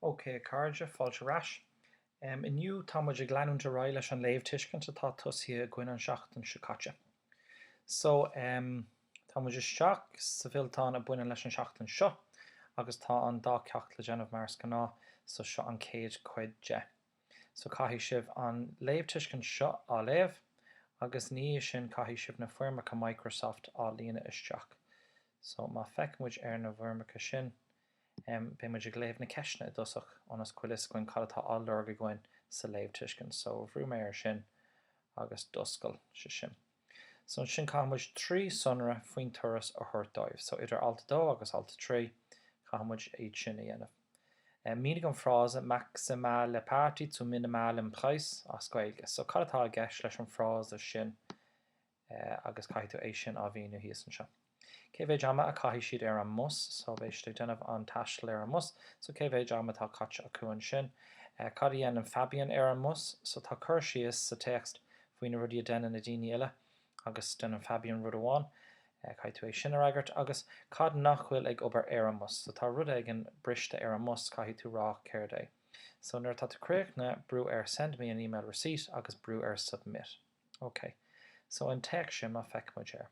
OK a chairde, fáilte ar ais. Inniu tá muid ag leanúint ar aghaidh leis an léamhtuiscint atá tosaithe againn an seachtain seo caite. So, tá muid isteach sa bhfillteán a baineann leis an seachtain seo agus tá an dá cheacht le déanamh mar is gnáth, so seo an chéad chuid de. So caithfidh sibh an léamhtuiscint seo á léamh, agus ina dhiaidh sin caithfidh sibh na foirmeacha Microsoft á líonadh isteach. So má feiceann muid ar na bhfoirmeacha sin, em, beidh muid ag léamh na ceisteanna i dtosach, ionas go bhfuil fhios againn cad atá á lorg againn sa léamhtuiscint. So bhrúigh mé air sin agus d'oscail sé sin. So ansin caithfidh muid trí sonra faoin turas a thabhairt dóibh. So idir alt a dó agus alt a trí caithfidh muid iad sin a dhéanamh. Mínigh an frása maximale Party zum minimalen Preis as Gaeilge. So cad atá i gceist leis an frása sin agus caithfidh tú é sin a mhíniú thíos anseo. Cé mhéid ama a caithfidh siad ar an mbus? So beidh siad ag déanamh an taistil ar an mbus. So cé mhéid ama atá caite acu ansin? Cad a dhéanann Fabian ar an mbus? So tá cur síos sa téacs faoi na rudaí a deineann na daoine eile agus deineann Fabian rud amháin. Caithfidh tú é sin a fhreagairt. Agus cad nach bhfuil ag obair ar an mbus? So tá rud éigin briste ar an mbus, caithfidh tú rá céard é. So nuair atá tú críochnaithe, brú ar Send me an email receipt agus brú ar Submit. Ok. So an téacs sin, má feic muid air.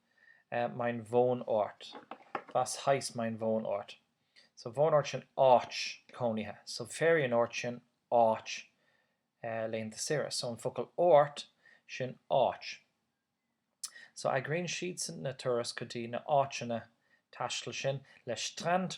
Mein Wohnort, was heißt mein Wohnort. So Wohnort sin áit cónaithe. So Ferienort sin áit laethanta saoire. So an focal Ort sin áit. So eagraíonn siadsan na turas go dtí na áiteanna taistil sin le Strand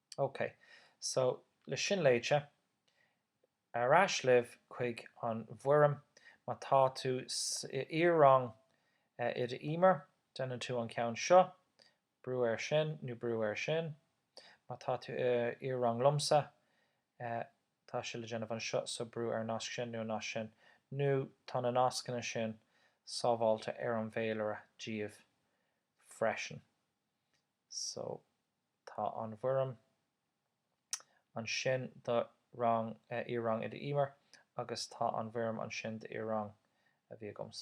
OK, so le sin léite, ar ais libh chuig an bhfoirm. Má tá tú sa iar-rang Oide Emer, déanann tú an ceann seo, brú air sin nó brú air sin. Má tá tú i iar-rang liomsa, tá sé le déanamh anseo, so brú ar an nasc sin nó an nasc sin, nó tá na nascanna sin sábháilte ar an bhféilire daoibh freisin. So, tá an bhfoirm ansin do rang, iar-rang Oide Emer agus tá an bhfoirm ansin d'iar-rang a bhí agamsa.